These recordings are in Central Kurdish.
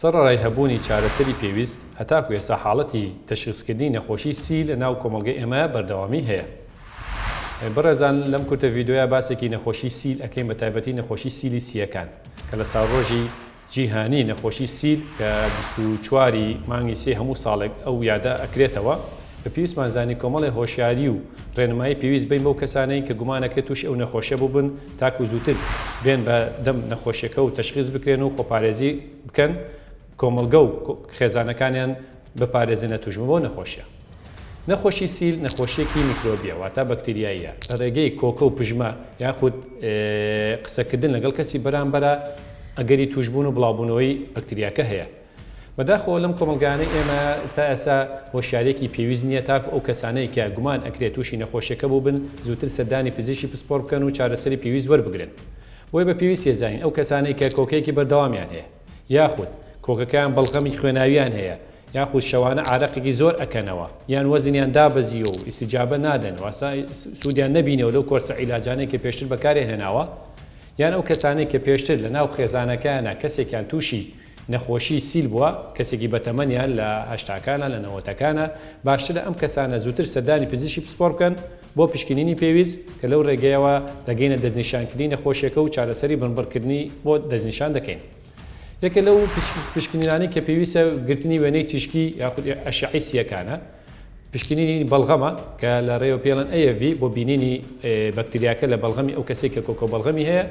سەڕەرای هەبوونی چارەسەری پێویست، هەتاکو ئێستا حاڵەتی تەشخیسکردنی نەخۆشی سی لە ناو کۆمەڵگەی ئێمە بەردەوامی هەیە. بەڕێزان لەم کورتە ڤیدۆیە باسێکی نەخۆشی سیل ئەکەین بە تایبەتی نەخۆشی سیلی سییەکان کە لە ساڵڕۆژی جیهانی نەخۆشی سیل کە بیست و چوار ی مانگی سێ هەموو ساڵێک ئەو یادە ئەکرێتەوە بە پێویستمان زانی کۆمەڵێ هۆشیاری و ڕێنمایی پێویست بەین بەو کەسانەی کە گومانەکرێت تووشی ئەو نەخۆشە بووبن تاکو زووتر بێن بە دەم نەخۆشیەکە و تەشخیس بکرێن و خۆپارێزی بکەن کۆمەڵگە و خێزانەکانیان بپارێزنە توشبون بەو نەخۆشیە. نەخۆشی سیل نەخۆشیەکی میکرۆبیە واتە بەکتریاییە لە ڕێگەی کۆکە و پژمە یاخود قسەکردن لەگەڵ کەسی بەرامبەرا ئەگەری توشبون و بڵاوبونەوەی بەکتریاکە هەیە. بەداخەوە لەم کۆمەڵگایانەی ئێمە تا ئێسا هۆشیاریەکی پێویست نیە تاکو ئەو کەسانەی کە گومان ئەکرێت توشی نەخۆشیەکە بوبن زوتر سەردانی پزیشکی پسپۆر بکەن و چارەسەری پێویست وەربگرن بۆیە بە پێویست یەزانین ئەو کەسانەی کە کۆکەیەکی بەردەوامیان هەیە یاخود کۆکەکەیان بەڵغەمی خوێناویان هەیە یاخود شەوانە عارەقێکی زۆر ئەکەنەوە یان وەزنیان دابەزیوە و ئیستیجابە نادەن واتە سودیان نەبینەوە لەو کۆرسە عیلاجانەی کە پێشتر بەکاریان هێناوە یان ئەو کەسانەی کە پێشتر لە ناو خێزانەکەیانە کەسێکیان توشی نەخۆشی سیل بووە کەسێکی بەتەمەنە لە هەشتاکانە لە نەوەتەکانە، باشترە ئەم کەسانە زووتر سەردانی پزیشکی پسپۆڕ بکەن بۆ پشکنینی پێویست کە لەو رێگەیەوە دەگەینە دەستنیشانکردنی نەخۆشیەکە و چارەسەری بنبڕکردنی بۆ دەستنیشان دەکەین. یەکێک لەو پشکنینانەی کە پێویستە گرتنی وێنەی تیشکی یاخود ئەشعەی سییەکانە، پشکنینی بەڵغەمە کە لە رێوە پێڵێن AFV بۆ بینینی بەکتریاکە لە بەڵغەمی ئەو کەسەی کە کۆکەو بەڵغەمی هەیە،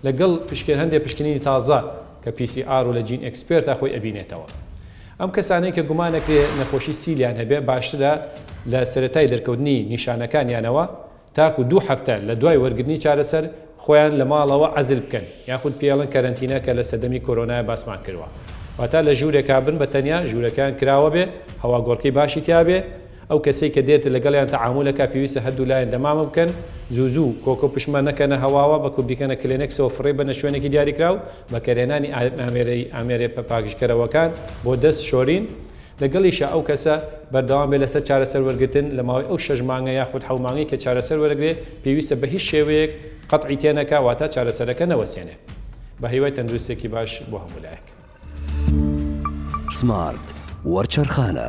لەگەڵ پشکێن هەندێ پشکنینی تازە کە پی سی ئار و لە جین ئێکسپێرتا خۆی ئەبینێتەوە. ئەم کەسانەی کە گومان ئەکرێ نەخۆشی سیلیان هەبێ باشترە لە سەرەتای دەرکەوتنی نیشانەکانیانەوە تاکو دوو هەفتە لە دوای وەرگرتنی چارەسەر خۆیان لە ماڵەوە عەزل بکەن یاخود پێڵن کەرەنتینە کە لە سەردەمی کۆرۆنایا باسمان کردوە واتا لە ژورێکا بن بە تەنیا ژورەکەیان کراوەبێ هەواگۆڕکێی باشی تیابێ ئەو کەسەی کە دێت لەگەڵیان تەعامول ئەکا پێویستە هەردوو لایەن دەمامە بکەن زوو زوو کۆکە و پشمە نەکەنە هەواوە بەکو بیکەنە کلێنێکسەوە فڕێی بەنە شوێنێکی دیاریکراو بەکەرهێنانی ئامێرەی ئامێرە پاکژکەرەوەکان بۆ دەست شۆرین لەگەڵیشا ئەو کەسە بەردەوام بێت لەسەر چارەسەر وەرگرتن لەماوەی ئەو شەش مانگە یاخود حەو مانگەی کە چارەسەر وەرەگرێ پێویستە بەهیچ شێوەیەک قەتعی تێنەکا واتا چارەسەرەکە نەوەستێنێ بەهیوای تەندروستێکی باش بۆ هەموو لایەک. سمارت وەرچەرخانە.